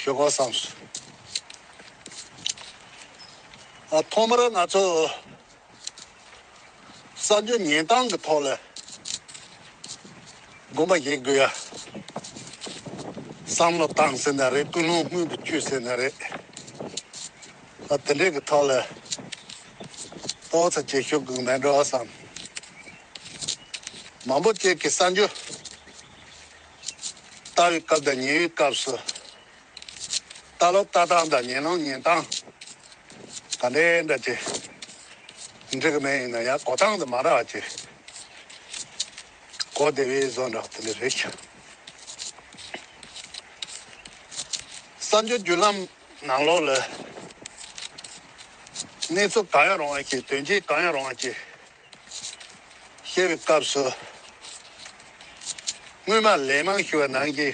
ཞོག་ཁོག་བསམས་སོ། ཐོག་མར་ང་ཚོས་གསར་འགྱུར་ཉན་སྟངས་ཀྱི་ཐོག་ལ་དགོངས་པ་བཞེས་དགོས་ཡ་བསམ་བློ་བཏང་ཟེར་ན་རེད་ཀུན་སློང་དངུལ་གྱི་བཅུད་ཟེར་ན་རེད། དེ་འདྲའི་གི་ཐོག་ལ་ཨོ་ཚ་བྱེད་ཞོར་གུག་མེད་འགྲོ་བསམས། མང་པོ་བཅས་ཀྱི་གསར་འགྱུར། བའི་སྐབས་དང་ཉལ་བའི་སྐབས་སུ། ལྟ་ལོག་ལྟ་སྟངས་དང་ཉལ་ལོག་ཉལ་སྟངས་དང་འདྲེས་འདྲ་སྟེ། འདྲེས་ཀྱི་མེད་ཡིན་ན་ཡང་གོ་སྟངས་དེ་མ་རག་ཅེས་གོ་བདེ་བས་བཟོ་འདྲ་དེ་འདྲ་རེད་ཀྱི། བསམ་སྦྱོར་བརྒྱུད་ལམ་ནང་ལོགས་ལ། གནས་ཚུལ་གང་ཡང་རུང་བ་ཞིག་དོན་རྐྱེན་གང་ཡང་རུང་བ་ཞིག། ཤེས་པའི་སྐབས་སུ། དངོས་མ་ལན་མང་ཞུ་བ་ནང་གི་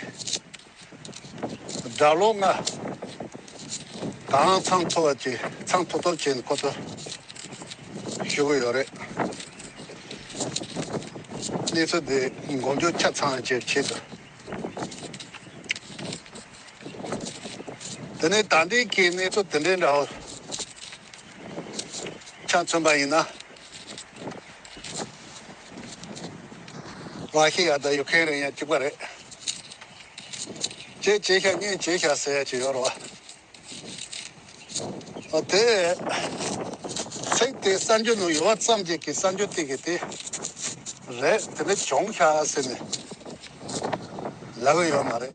སྒྲ་ལོག་ལྔ་གང་ཚང་མཐོ་བ་དེ་ཚང་མཐོ་སྟོབས་ཆེན་ཁོ་ཚོ་ཞུ་གི་ཡོད་རེད། གནས་ཚུལ་འདི་མགོ་མཇུག་ཆ་ཚང་བྱེད་པའི་ཆེད་དུ། དེ་ནས་ད་ལྟའི་ཁའི་གནས་ཚུལ་དེ་འདྲའི་འདྲ་བོ་ཆ་མཚོན་པ་ཡིན་ན། མ་ཤེས་ཡག་ད་ཡོད་མཁན་རེད་ཡང་ཅིག་པ་རེད། ཅེས་བྱས་ཤག་གཉིས་བྱས་ཤག་ཟེར་ཡག་ཅིག་ཡོད་རོགས། ཨོ་དེ། ཚིག་དེའི་གསར་འགྱུར་ནང་ཡོད་བ་ཙམ་གྱིས་གི་གསར་འགྱུར་ཐིག་གི་དེ། རེད་དེ་འདྲ་བྱུང་ཤག་ཟེར་ནས། ལབ་ཡོད་མ་རེད།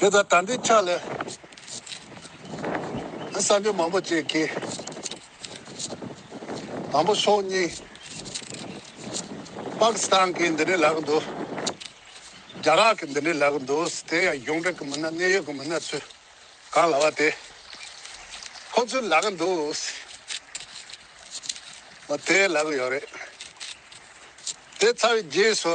དེ་ལྟར་དམ་པའི་ཕྱག་ལས། བསམ་པའི་མང་པོ་བཅས་ཀྱིས། དང་པོ་སྲོག་སྙིང། དཔག་བསམ་གྱི་འདི་འདྲའི་ལག་འདུག། རྒྱ་རག་གི་འདི་འདྲའི་ལག་འདུག་དེ་ཡང་གཞུང་འབྲེལ་གྱི་མི་སྣ་གནད་ཡོད་ཀྱི་མི་སྣ་ཚོས་གང་ལ་བ་དེ་ཁོ་ཚོའི་ལག་འདུག། དེའི་ལག་ཡོད་རེད། དེ་ཚར་བའི་རྗེས་སུ།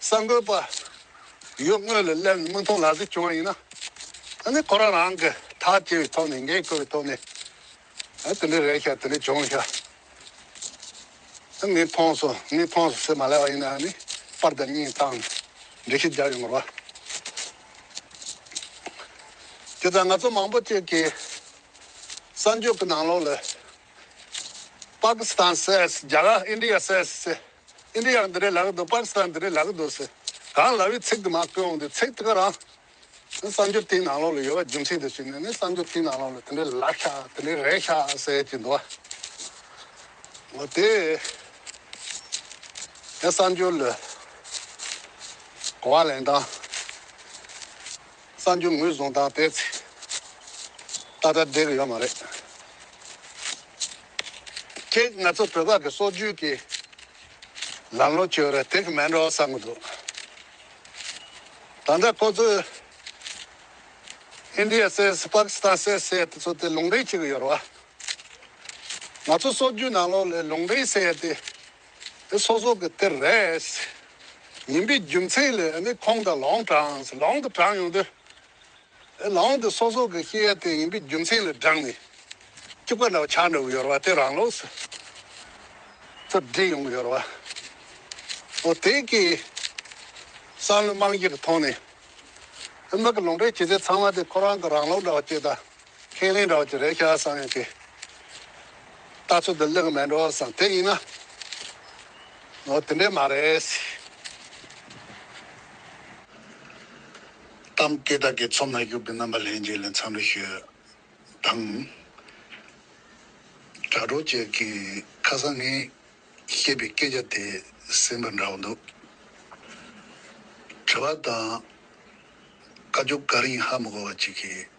གསར་འགོད་པ། ཡུལ་དངོས་ལ་སླེབས་ནས་མིག་མཐོང་ལག་ཟིན་བྱུང་བ་ཡིན་ན། ད་ནི་ཁོ་རང་རང་གི་ཐག་བཅད་པའི་ཐོག་ནས་འགན་ཁུར་བའི་ཐོག་ནས། དེ་འདྲ་རེད་ཤག་དེ་འདྲ་བྱུང་ཤག། ངས་མཐོང་སོང་ངས་མཐོང་སོང་ཟེར་མ་ལ་བ་ཡིན་ན་ནི་པར་དང་སྙིང་གཏམ་འབྲི་ཤེས་རྒྱག་ཡོང་དགོས་པ། དེ་ལྟར་ང་ཚོ་མང་པོ་བཅས་ཀྱིས་གསར་འགྱུར་གྱི་ནང་ལོགས་ལ། Pakistan says རྒྱ་གར India says ཟེར། ཨིན་དྲི་ཡག་འདི་རེད་ལག་གི་འདུག་པར་ས་འདི་རེད་ལག་གི་འདུག་ཟེར། གང་ལ་བའི་ཚིག་དུ་མ་བཀོད་འོང་དུས་ཚིག་དེ་ག་རང། ནི་གསར་འགྱུར་དེའི་ནང་ལོགས་ལ་ཡོད་པ་རྒྱུན་ཆད་དུ་བྱས་ནས་ནི་གསར་འགྱུར་དེའི་ནང་ལོགས་ལ་དེ་འདྲའི་ལག་ཤ་དེ་འདྲའི་རས་ཤ་ཟེར་གྱི་འདུག་བ། འོ་དེས། ངས་གསར་འགྱུར་ལ་གོ་བ་ལེན་སྟངས། གསར་འགྱུར་ངོས་བཟུང་སྟངས་དེ་ད་ལྟ་བསྒྲིགས་ཡོད་མ་རེད། ཁྱེད་ང་ཚོ་བོད་པ་གི་སྲོག་རྒྱུད་ཀྱི་ལམ་ལོ་བཅོས་རེད་དེ་གི་མེད་འགྲོ་བསམ་གི་འདུག་ད་ལྟ་ཁོ་ཚོས India says Pakistan says ཟེར་དེ་ཚོ་དེ་ལུང་འདྲེན་བྱེད་གི་ཡོད་རེད་བ། ང་ཚོ་སྲོག་རྒྱུད་ནང་ལོགས་ལས་ལུང་འདྲེན་ཟེར་དེ་དེ་སོ་སོ་གི་དེར་རེས་ཡིན་པའི་རྒྱུ་མཚན་ལས་ནི་ཁོང་དང་ལོང་དྲངས་ལོང་དུ་དྲངས་ཡོང་དུས། དེ་ལོང་དེ་སོ་སོ་གི་སྐྱེ་ཡ་དེ་ཡིན་པའི་རྒྱུ་མཚན་ལས་བསྒྲགས་ནས་སྐྱུག་པ་འདྲ་བ་ཆག་འདྲ་བོ་ཡོད་ར་བ་དེ་རང་ལོགས་སུ་ཚུར་བསྒྲིགས་ཡོང་གི་ཡོད་ར་བ། འོ་དེ་གའི་བསམ་བློའི་རྨང་གཞི་གི་ཐོག་ནས། དེ་མིག་གི་ལོང་པའི་སྐྱེ་ཚལ་ཚང་མ་དེ་ཁོ་རང་གི་རང་ལོགས་འདྲ་བ་སྐྱེས་དང། ཁས་ལེན་རོགས་ཀྱི་རེད་ཤག་བསམ་ཡོད་ཀྱི། ལྟ་ཚུལ་འདི་ལེགས་མེད་འགྲོ་བསམ་དེ་ཡིན་ན། ནོར་དེ་འདྲས་མ་རེད། གཏམ་སྐད་དག་གི་ཚོམས་ལ་གཞུག་པའི་རྣམ་པ་ལྷན་རྒྱས་ལས་མཚམས་རེ་ཤོད་དང། དྲ་གྲོགས་བཅས་ཀྱིས་ཁ་སང་ངས་བཤད་པའི་སྐད་ཆ་དེ་ཟིན་པ་འདྲ་བོ་འདུག་དྲི་བ་དང། བཀའ་བཅུ་ག་རེ་ཡིན་ཧ་མི་གོ་བ་ཅིག་གིས།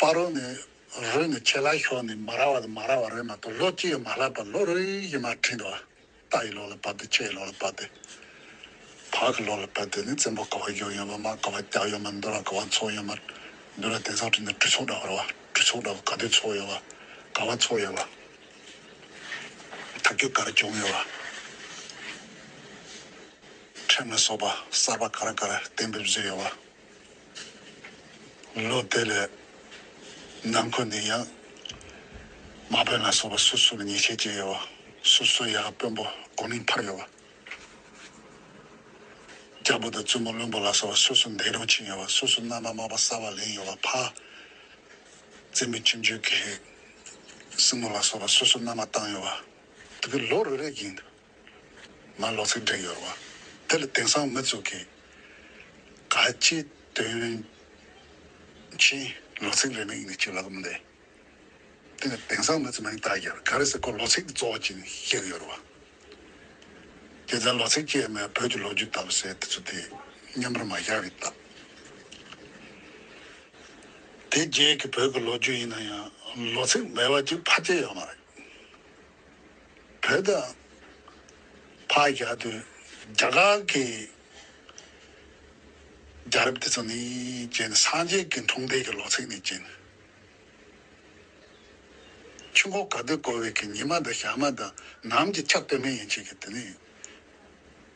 པར་རོ་ནི་རོས་ནི་ཆད་ལ་ཞོག་ནི་མ་ར་བ་དང་མ་ར་བ་རོས་མ་གཏོགས་ལོ་གཅིག་ཡང་མ་ལྷག་པར་ལོ་རོས་ཡིད་མ་ཁྲིད་འདུག་རྟ་ཡི་ལོ་ལ་བབས་ཏེ་ཆད་ཡི་ལོ་ལ་བབས་ཏེ་བག་གི་ལོ་ལ་བབས་ཏེ་ནི་བཙན་པོ་ཀ་བ་གཞོན་ཡོད་མ་དམག་ཀ་བ་སྐྱག་ཡོད་མ་མདོ་ར་ཀ་བ་མཚོ་ཡོད་མ་མདོ་ར་དེང་སང་བྲིས་ནས་གྲུ་ཚོགས་འདྲ་བ་ར་བ་གྲུ་ཚོགས་འདྲ་བ་ག་དུས་ཚོགས་ཡོད་བ་ཀ་བ་ཚོགས་ཡོད་བ་ཐབས་སྐྱོ་ཀ་ར་བྱུང་ཡོད་བ། ཁྲིམས་ལ་སོགས་པ་གསར་པ་ག་རེ་ག་རེ་གཏན་འབེབས་བཟོས་ཡོད་པ། ལོ་དེ་ལས་ནང་ཁུལ་ནས་ཡང་དམག་དཔོན་ལ་སོགས་པ་སུ་སུ་ལ་ཉེས་ཆད་བཅད་ཡོད་པ། སུ་སུ་ཡང་དཔོན་པོ་དགོན་མིང་འཕར་ཡོད་པ། སྐྱ་བོ་དང་བཙུན་མོ་བློན་པོ་ལ་སོགས་པ་སུ་སུ་འདས་གྲོངས་ཕྱིན་ཡོད་པ། སུ་སུ་མནའ་མ་དམག་པ་གསར་བ་ལེན་ཡོད་པ། ཕ་བཙན་པོའི་ཁྱིམ་རྒྱུད་ཀྱི་སྲིང་མོ་ལ་སོགས་པ་སུ་སུ་མནའ་མ་བཏང་ཡོད་པ། དེ་ལོ་རེ་རེ་བཞིན་མར་ལོག་ཚིག་འབྲི་ཡོད་བ། དེ་ལ་དེང་སང་མི་བཙུགས་ཀི། ག་ཅི་དོན་ཅི། ལོག་ཚིག་རེ་མིག་ནས་ཅི་ལ་གོམས་ཏེ། དེ་ལ་དེང་སང་མི་ཚོ་མིང་བཏགས་རྒྱར་ག་རེ་ཟེར་ཁོ་ལོག་ཚིག་གཙོ་བོ་ཅིག་ཤིག་ཡོད་བ། རྒྱལ་མཚན་ལོག་ཚིག་ཅེས་མོས་བོད་ཀྱི་ལོ་རྒྱུས་བཏབ་ཟེར་དེ་ཚོ་དེ་སྙམ་པར་མ་བཞག་གི་བཏབ། དེ་རྗེས་ཀྱི་བོད་ཀྱི་ལོ་རྒྱུས་ཡིན་ན་ཡང་ལོག་ཚིག་མེད་བ་ཅིག་ཕར་སྐྱེལ་ཡོད་མ་རེད། བོད་དང་བྷ་ག་དུ་རྒྱ་གར་གྱི་རྒྱ་རབས་དེ་ཚོ་ནི་རྗེ་ནི་སངས་རྒྱས་ཀྱི་འཁྲུངས་འདས་ཀྱི་ལོ་ཚིགས་ནས་བརྒྱན། ཆུ་འགོ་ག་དུས་བསྐོར་བའི་གི་ཉི་མ་དང་ཞག་མ་དང་ནམ་གྱི་ཆ་སྟོད་སྨད་ཡན་ཆད་ཀྱི་དུས་ནས།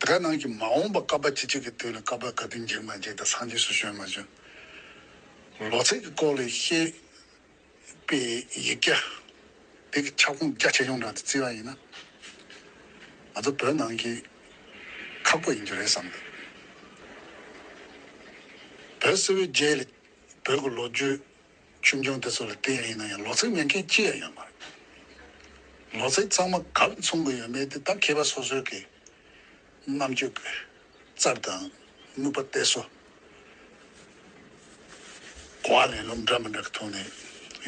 དེ་ག་ནང་གི་མ་འོངས་པ་སྐལ་པ་ཅི་ཅིག་གི་དུས་ལ་སྐལ་པ་དགའ་བདེ་འགྱིང་མ་འགྱིང་དང་སངས་རྒྱས་སུ་བྱོན་མ་བྱོན། ལོ་ཚད་ཀྱི་སྐོར་ལས་ཤེས། པའི་ཡིག་བརྒྱ། དེ་གི་ཁྱབ་ཁོངས་རྒྱ་ཆེ་ཆུང་དྲག་ཏུ་བརྩི་བ་ཡིན་ན། ང་ཚོ་བོད་ནང་གི་ཁག་པོ་ཡིན་རྒྱུ་རེད་བསམ་ཡོད། བོད་སིལ་བུའི་རྗེས་ལ་བོད་ཀྱི་ལོ་རྒྱུས། ཆུང་ཆུང་དེ་ཚོ་ལ་བལྟས་རིགས་ན་ཡང་ལོ་ཚིགས་མེད་མཁན་ཅི་ཡང་ཡོད་མ་རེད། ལོ་ཚིགས་གཙང་མ་གང་མཚུངས་པ་ཡོད་མེད་དེ་ད་མཁས་པ་སོ་སོའི་གི་རྣམ་དཔྱོད་ཀྱི་རྩར་དང་ནུབ་པ་བལྟས་སོ། གོ་བ་ལེན་ལུགས་འདྲ་མི་འདྲ་གི་ཐོག་ནས་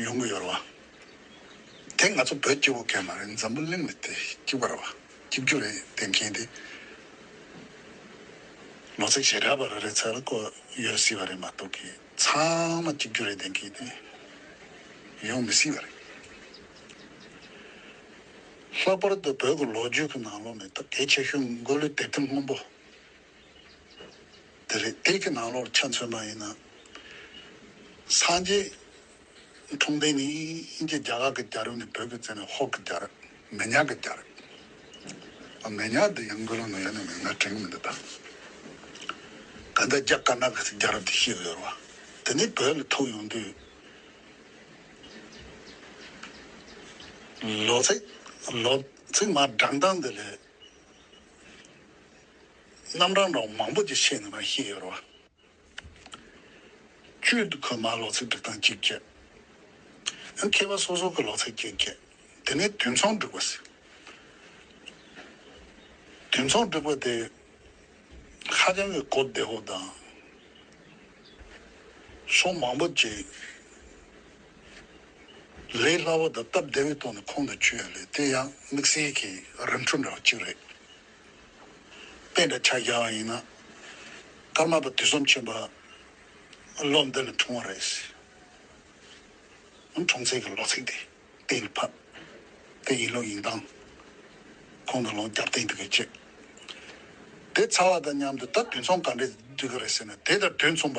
ཡོང་གི་ཡོད་རེད་བ། དེ་ང་ཚོ་བོད་སྐྱེ་བོ་གས་མ་རེད་འཛམ་བུ་གླིང་ལ་དེ་སྐྱིད་པ་རེད་བ་སྐྱིད་རྒྱུ་རེད་བལྟས་མཁན་དེ་ལོ་ཚིགས་ཞེ་དྲག་པ་རེ་རེ་ཚ་ལ་བཀོད་ཡོད་སྲིད་བ་རེད་མ་གཏོགས་གི། ཚང་མ་གཅིག་གྱུར་རེ་ལྡན་གྱིས་ནི་ཡོང་མི་སྲིད་པ་རེད། ལྷག་པར་དུ་བོད་ཀྱི་ལོ་རྒྱུས་ཀྱི་ནང་ལོགས་ནས་སྟབས་བདེ་ཆེ་ཤོས་མགོ་ལུས་དད་ལྡན་སྔོན་པོ་དེ་རེད། དེ་གྱི་ནང་ལོགས་ཆ་མཚོན་ན་ཡིན་ན། སངས་རྒྱས་ཁྲོང་ཏེན་ནི་དབྱིན་ཇི་རྒྱ་གར་གྱི་རྒྱ་རུ་ནས་བོད་ཀྱི་རྩེ་ནས་ཧོར་གྱི་རྒྱ་རུ་མེ་ཉག་གི་རྒྱ་རུ། མེ་ཉག་འདི་ཡང་མགོ་ལོག་ནང་ཡོད་ན་མིང་ན་དྲན་གྱི་མི་འདུག་ད། ག་འདྲ་རྒྱ་དཀར་ནག་གི་རྒྱ་རུ་དེ་ཤེས་ཡོད་རུང་དེ་ནས་བོད་ལ་ཐུག་ཡོང་དུས། ལོ་ཚིགས་མ་བགྲང་སྟངས་འདི་ལས། རྣམ་གྲངས་འདྲ་བོ་མང་པོ་ཅིག་ཤེས་ནུས་པ་ཤེས་ཡོད་རུང། གཅོད་དུ་ཁོས་མར་ལོག་ཚད་སྒྲིག་སྟངས་གཅིག་བསྐྱལ། ཡང་མཁས་པ་སོ་སོར་ཁོས་ལོག་ཚད་བསྐྱལ་བསྐྱལ། དེ་ནས་དུས་མཚུངས་སྒྲིག་པ་ཟེར། དུས་མཚུངས་སྒྲིག་པ་དེ་ཧ་ཅང་གི་གོ་བདེ་བོ་དང། ཕྱོགས་མང་པོ་བཅས་ལས་སླ་བོ་དང་སྟབས་བདེ་བའི་ཐོག་ནས་ཁོང་དུ་ཆུད་ཡ་ལེ་དེ་ཡང་དམིགས་བསལ་གྱི་རིམ་གྲོ་འདྲ་བ་གཅིག་རེད། པད་འདྲ་ཕྱག་རྒྱ་བ་ཡིན་ན། ཀརྨ་པ་དུས་གསུམ་ཆེན་པོ་ལོ་འདི་ལ་འཁྲུངས་བ་རེད། འཁྲུངས་ཚད་ཀྱི་ལོ་ཚིགས་དེ་གཏན་ལ་ཕབ་དེ་ཡིན་ལུགས་ཡིན་སྟངས་ཁོང་དང་ལོང་རྒྱབ་བསྟན་འདུག་གི་ཅེས་དེ་ཚ་བ་དང་མཉམ་དུ་ད་དུས་མཚུངས་ག་འདྲས་འདུག་གི་རེད་ཟེར་ན་དེ་ལྟར་དུས་མཚུངས་པ།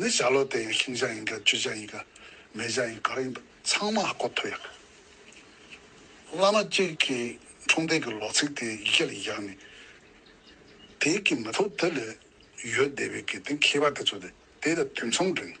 ནི་བྱ་ལོ་དེ་ཡང་ཤིང་བྱ་ཡིན་ག་ཆུ་བྱ་ཡིན་ག་མེ་བྱ་ཡིན་ག་རེ་ཡིན་པ་ཚང་མ་ཀོ་ཐོ་ཡག་བླ་མ་གཅིག་གི་འཁྲུངས་འདས་ཀྱི་ལོ་ཚིགས་དེ་ཡི་གེ་ལ་བཞག་ནས་དེ་གི་མི་ཐུབ་དེ་ལས་ཡོད་བསྡད་པའི་གི་དེ་མཁས་པ་དེ་ཚོ་དེ་དེ་ལ་དུས་མཚམས་བསྒྲིགས་ནས།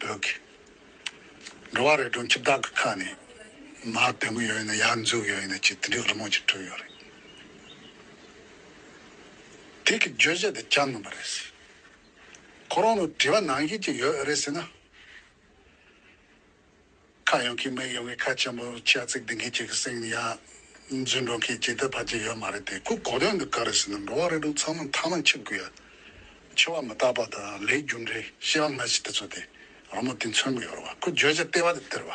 བོད་ཀྱི། འགྲོ་བ་རེ་གྲོང་ཁྱེར་དག་གི་ཁ་ནས། མར་བལྟས་མོ་ཡོད་ཡིན་ན་ཡར་འཛུགས་ཡོད་ཡིན་ན་ཅེས་དེ་འདྲའི་རི་མོ་ཅིག་བྲིས་ཡོད་རེད། དེ་གི་བརྗོད་བྱ་དེ་སྐྱར་མིན་པ་རེད། ཁོ་རང་ལ་དྲི་བ་ནང་བཞིན་ཅིག་ཡོད་རེད་ཟེར་ན། ཁ་ཡོང་གི་མི་ཡོང་གི་ཁ་ཆེན་པོ་ཆག་ཚིག་འདི་འགའི་ཁྱེད་ཀྱི་སེམས་ཡ། རྫུན་སྒྲོག་མཁན་ཇི་ལྟར་བར་གྱི་ཡོད་མ་རེད་དེ་ཁོ་གོ་ལོན་འདུག་ག་རེ་ཟེར་ན་འགྲོ་བ་རེ་དྲུག་ཚང་མ་མཐའ་མ་འཆི་དགོས་ཡ། འཆི་བ་མི་རྟག་པ་དང་ལས་རྒྱུ་འབྲས་ཤེས་པ་མི་ཞིག་དེ་ཚོ་དེ་རང་མོ་དེ་མཚོན་གི་ཡོད་རེད་བ་ཁོ་བརྗོད་བྱ་ལྟེ་བ་དེ་དེར་བ།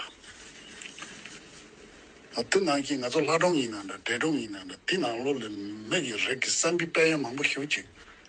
ཨ་དེ་ནང་གི་ང་ཚོ་ལྷ་སྒྲོམ་ཡིན་ན་འདྲ་འདྲེ་སྒྲོམ་ཡིན་ན་འདྲ་དེ་ནང་ལོག་ལས་མི་གི་རིགས་ཀྱི་བསམ་གི་དཔལ་ཡོན་མང་པོ་ཞུ་ཅིག་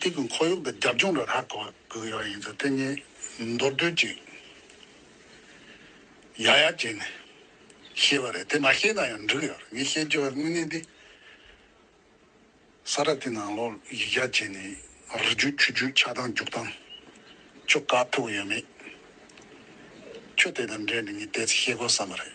དེ་གི་ཁོར་ཡུག་གི་རྒྱབ་ལྗོངས་ལ་ཧ་གོ་དགོས་ཀྱི་ཡོད་ཡིན་ཚེ་དེ་ཉིད་མདོར་བསྡུས་ཅིག་ཡག་ཡག་བྱས་ནས་ཤེས་པ་རེད་དེ་མ་ཤེས་ན་ཡང་འགྲིག་ཡོད་རེད་ངས་བཤད་རྒྱུ་བའི་དངོས་གནས་འདི་ས་ར་དེ་ནང་ལོག་ཡིག་བརྒྱ་བྱས་ནས་རི་རྒྱུད་ཆུ་རྒྱུད་ཆགས་སྡང་རྒྱུགས་སྡང་ཅུ་ག་ཐུབ་ཡོད་མེད་ཁྱོད་དེ་དང་འབྲེལ་ནས་ངས་དེ་ཚོ་ཤེས་དགོས་བསམ་པ་རེད།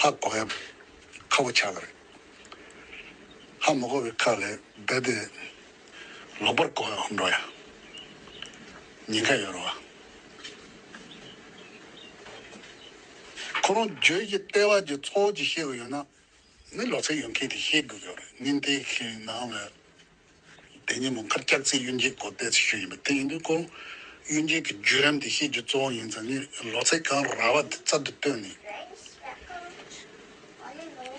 ཧ་གོ་ཡབ་ཁ་བོ་ཆགས་རེད། ཧ་མི་གོ་བའི་ཁ་ལས་རྦད་དེ་ལོག་པར་གོ་ཡོང་འགྲོ་ཡ། ཉེན་ཁ་ཡོད་རེད་བ། ཁོ་རང་བརྗོད་ཀྱི་ལྟེ་བ་ཀྱི་ཚོགས་ཀྱི་ཤེས་དགོས་ཡོད་ན། མི་ལོ་ཚད་ཡོད་མཁན་དེ་ཤེས་དགོས་ཀྱི་རེད། ཉིན་དེའི་ནང་ལ་དེ་ཉིན་མོ་མཁར་སྐྱག་རྩིས་གཡུལ་འགྱེད་སྐོར་བལྟས་ཚུལ་ཞིག་ཡིན་པ་དེ་ཡིན་དུས་སྐོར་གཡུལ་འགྱེད་ཀྱི་བརྒྱུད་རིམ་དེ་ཤེས་རྒྱུ་གཙོ་བོ་ཡིན་ཙང་ངས་ལོ་ཚིགས་གང་རག་བ་དེ་རྩལ་དུ་བཏོན་ནས།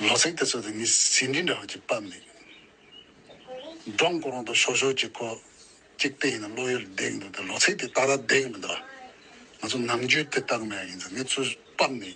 ལོ་ཚིགས་དེ་ཚོ་དང་ངའི་ཟིན་བྲིས་འདྲ་བ་ཅིག་བབས་ནས། སྒྲོམ་གོང་དུ་ཞོག་ཞོག་ཅིག་ཁོ། གཅིག་དེ་ཡིན་ན་བློ་ཡུལ་འདེགས་འདུག་དེ་ལོ་ཚིགས་དེ་ད་ར་འདེགས་མི་འདུག་ཨ། ང་ཚོ་ནམ་རྒྱུན་དེ་ལྟར་མེད་ཡིན་ཙང་ངས་ཚུར་བབས་ནས།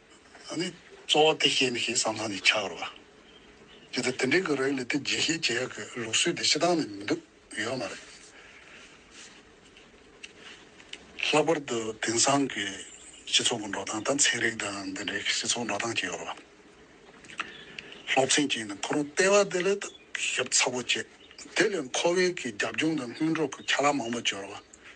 ཨ་ནི་གཙོ་བོ་དེ་ཤེས་མི་ཤེས་བསམ་བསམ་ནས་ཆགས་རོགས། ཇི་ལྟར་དེ་འདྲའི་གི་རིགས་ལས་དེ་རྗེས་ཤེས་བྱེད་ཡག་གི་ལུགས་སྲོལ་དེ་ཤི་ཐང་ནས་མི་འདུག་ཡོད་མ་རེད། ལྷག་པར་དུ་དེང་སང་གི་སྤྱི་ཚོགས་ཀྱི་འགྲོ་སྟངས་དང་ཚན་རིག་དང་འདི་འདྲའི་སྤྱི་ཚོགས་འགྲོ་སྟངས་ཀྱི་ཡོ་རོབ་སློབ་ཚན་གཅིག་ནས་ཁོ་རང་ལྟེ་བ་དེ་ལས་ཐུགས་ཞབས་ཚ་པོ་བྱེད་དེ་ལས་ཁོ་བོའི་གི་རྒྱབ་ལྗོངས་དང་སྔུན་འགྲོ་གི་ཁྱ་ལག་མང་པོ་བྱོས་རོགས།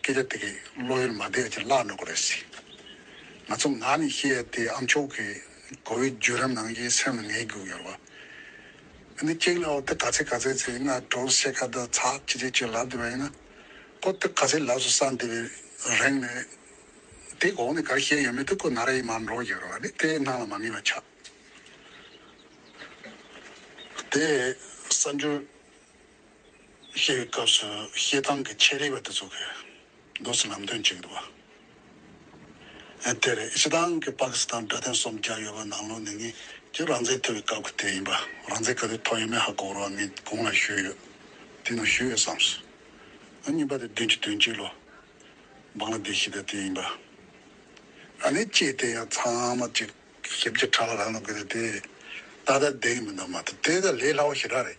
སྐད་ཆ་དེ་གའི་བློ་ཡུལ་མ་བདེ་བ་ཅིག་བརླག་འགྲོ་གི་རེད། ང་ཚོ་ནག་ནས་ཤེས་ཡ་དེ་ཨ་མཆོག་གི་གོ་བའི་བརྒྱུད་རམ་ནང་བཞིན་སེམས་ལ་ངེས་དགོས་ཡོད་པ། འདི་སྐྱེག་ལ་འོ་དེ་ག་ཚད་ག་ཚད་ཚེ་ང་གྲོགས་སུ་ཤེས་ཁ་བརྡ་ཚ་ཆི་ཆི་ཅིག་ལབ་འདི་བ་ཡིན་ན། ཁོ་དེ་ག་ཚད་ལབ་སུ་བསམ་འདི་བའི་རེང་ནས། དེ་གོང་ནས་ག་རེ་བཤད་ཡོད་མེད་དེ་ཁོ་ན་རེ་ཡིན་མར་འགྲོ་གི་རེད་བ་འདི་དེ་སྣང་ལ་མ་ངེས་པ་ཆགས། དེ་ས་འགྱུར། ཤེས་པའི་སྐབས་སུ་ཤེས་སྟངས་ཀྱི་ཆེད་རིག་པ་དེ་ཚོ་གི་མདོ་སུ་ལམ་སྟོན་བྱེད་ཀྱི་འདུག་བ་དེ་རེད་སྤྱི་བཏང་གི་པ་ཀི་སི་ཐན་དྲ་སྟེང་སོམ་རྒྱག་ཡོད་པ་ནང་ལོ་ནི་ངེད་ཀྱི་རང་བཙན་ཐོབ་པའི་སྐབས་ཀྱི་དེ་ཡིན་པ་རང་བཙན་ག་དུས་ཐོབ་ཡོད་མེད་ཧ་གོ་རོགས་ངེད་གོང་ལ་ཞུས་ཡོད་དེ་ནང་ཞུས་ཡོད་བསམ་སོང་ཨ་གཉིས་པ་དེ་བདུན་ཅུ་དོན་གཅིག་ལོ་འབངས་ལ་བདེ་ཞིག་དང་དེ་ཡིན་པ་ཨ་ནི་ཅེས་དེ་ཡང་ཚང་མ་གཅིག་ཞིབ་ཀྱི་ཕྲག་ལ་རག་ན་དགོས་རེད་དེ་ད་ལྟ་བདེ་གི་མི་འདུག་མ་གཏོགས་དེ་ད་ལས་སླ་བོ་ཞིག་རག་རེད།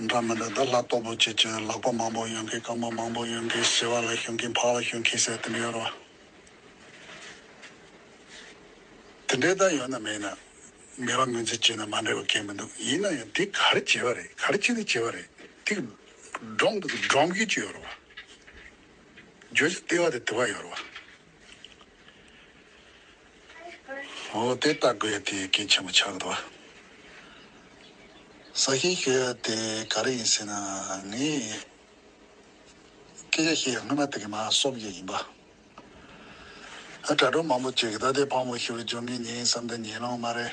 འདྲ་མི་འདྲ་ད་ལྷ་སྟོབས་པོ་ཁྱེད་ཀྱི་ལག་པ་མང་པོ་ཡོང་གི་རྐང་པ་མང་པོ་ཡོང་གི་བྱི་བ་ལ་ཞོན་གིན་ཕག་ལ་ཞོན་གིན་ཟེར་དེ་འདྲ་ཡོད་རོ། དེ་འདྲའི་ད་ཡོད་ན་མེད་ན་མི་རང་ངོས་འཛིན་བྱེད་ན་མ་འདྲ་བའི་སྐད་མི་འདུག་ཡིན་ན་ཡང་དེ་ག་རེ་བྱེད་པ་རེད་ག་རེ་བྱེད་ནི་བྱེད་པ་རེད་དེ་འདྲོང་དུ་འདྲོང་གིན་ཅི་ཡོད་རོ། བརྗོད་བྱ་ལྟེ་བ་དེ་དེ་བ་ཡོད་རོ། འོ་དེ་ལྟ་དགོས་དེ་གལ་ཆེན་པོ་ཆགས་འདུག་ཟ་མཁན་ཞིག་དེ་ག་རེ་ཡིན་ཟེར་ན་ངས་སྐད་ཆ་བཤད་ཡ་སྔོན་མ་དེ་གི་མ་གསོབ་བཞག་ཡིན་པ། དྲ་གྲོགས་མང་པོ་བཅས་ཀྱི་ད་ལྟའི་ཕག་མོ་ཞེས་པ་སྦྱོང་མཁན་ཉིན་གསུམ་དང་ཉིན་ལོང་མ་རེད།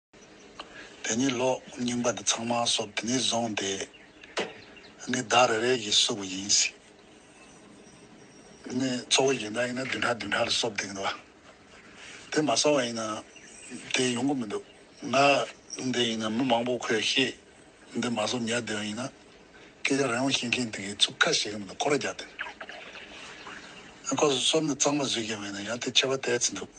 དེ་ཉིད་ལོག་རྙིང་པ་འདི་ཚང་མ་སོབ་དེ་ནས་བཟུང་སྟེ། འདི་བདག་རེ་རེ་གིས་བསུབ་པ་ཡིན་སྲིད། འདི་ནི་གཙོ་བོ་ཡིན་ན་ཡིན་ན་བདུན་ཕྲག་བདུན་ཕྲག་ལ་སོབ་བསྡིགས་འདུག། དེ་མ་སོབ་བ་ཡིན་ན་དེ་ཡོང་གི་མི་འདུག་ང་འདི་ཡིན་ན་མི་མང་པོ་ཁོས་ཤེས་འདི་མ་བཟོ་ཉལ་བསྡད་ཡོང་ཡིན་ན། སྐད་ཆ་རང་ཡོང་ཤེས་མཁན་དེ་གས་ཚུགས་ཁ་ཞེ་གི་མི་འདུག་ཁོ་ར་རྒྱག་དེ། ཁོ་ཚོ་གསོལ་འདེབས་གཙང་མ་བཟོས་ཀྱང་མེད་ན་ཡང་དེ་ཆད་པ་དལ་ཚིག་འདུག།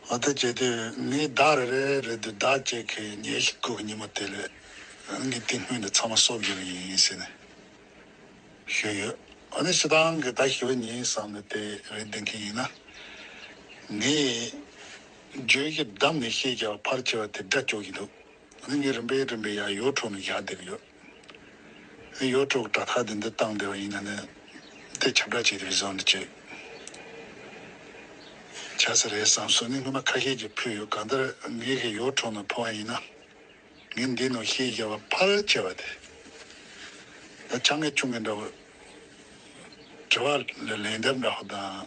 འོ་དེ་བྱས་དུས་ངའི་བདག་རེ་རེ་རེད་འདུག་བདག་ཅེས་ཁས་ཉེས་ཤིག་བསྐུལ་གི་ཉིན་མོ་དེ་ལས་ང་གིས་དེ་སྔོན་དེ་ཚང་མ་གསོ་བགྱིས་པ་ཡིན་ཟེར་ནས་ཞུས་ཡོད། འོ་ནི་ཞེ་སྡང་གི་བདག་ཞི་བ་ཉིད་བསམ་ནས་དེ་རེ་འདེབས་མཁན་ཡིན་ན། ངའི། བརྗོད་བཞིན་བསྡམས་ནས་བཤད་བྱ་བ་ཕར་ཆེ་བ་དེ་སྒྲ་སྐྱོག་གི་འདུག་ང་ངའི་རིན་པའི་རིན་པའི་ཡག་ཡོ་ཁྲོག་ནས་བཞག་བསྡད་ཀྱི་ཡོད་ཨ་ཡོ་ཁྲོག་གྲ་ཁ་དེ་འདི་བཏང་བསྡད་པ་ཡིན་ན་ནི་དེ་ཁྱབ་བསྒྲགས་བྱེད་དེ་བས་བཟང་དུ་བྱས་བྱ་ས་རེད་བསམ་སོང་ནི་སྔོན་མ་ཁ་ཤས་ཀྱིས་ཕུལ་ཡོད་གང་ལྟར་ངའི་གི་ཡོ་ཁྲོག་ནང་ཕུལ་བ་ཡིན་ན་ངའི་འདི་ནང་བཤད་བྱ་བ་ཕར་ཆེ་བ་དེ་ད་ཆ་ངས་ཆུང་གི་འདྲ་བོ་དྲི་བ་ལ་ལན་འདེབས་འདྲ་བོ་དང།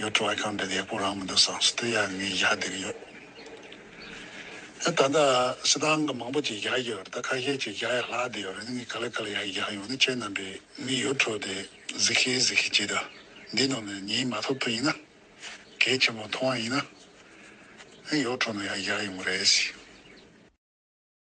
ཡོད་འགྲོ་བ་གང་འདྲ་ཡག་པོ་རང་མི་འདུག་བསམ་སྲིད་དེ་ཡང་ངས་བཞག་བསྡད་ཀྱི་ཡོད། ད་ལྟ་སྲིད་ཏང་གི་མང་པོ་ཅིག་བཞག་ཡོད་ད་ཁ་ཤས་ཅིག་བཞག་ཡ་ལྷག་བསྡད་ཡོད་རེད་ངས་ག་ལེ་ག་ལེ་ཡག་བཞག་ཡོང་ནི་ཁྱེད་རྣམ་པས་མི་ཡོད་འཕྲོ་དེ་གཟིགས་ཤེས་གཟིགས་ཤེས་བྱེད་དང་འདི་ནང་ནས་ཉིན་མ་ཐོབ་ཐུབ་ཡིན་ན། གལ་ཆེན་པོ་མཐོང་བ་ཡིན་ན། ཡོད་འཕྲོ་ན་ཡག་བཞག་ཡོང་གི་རེད།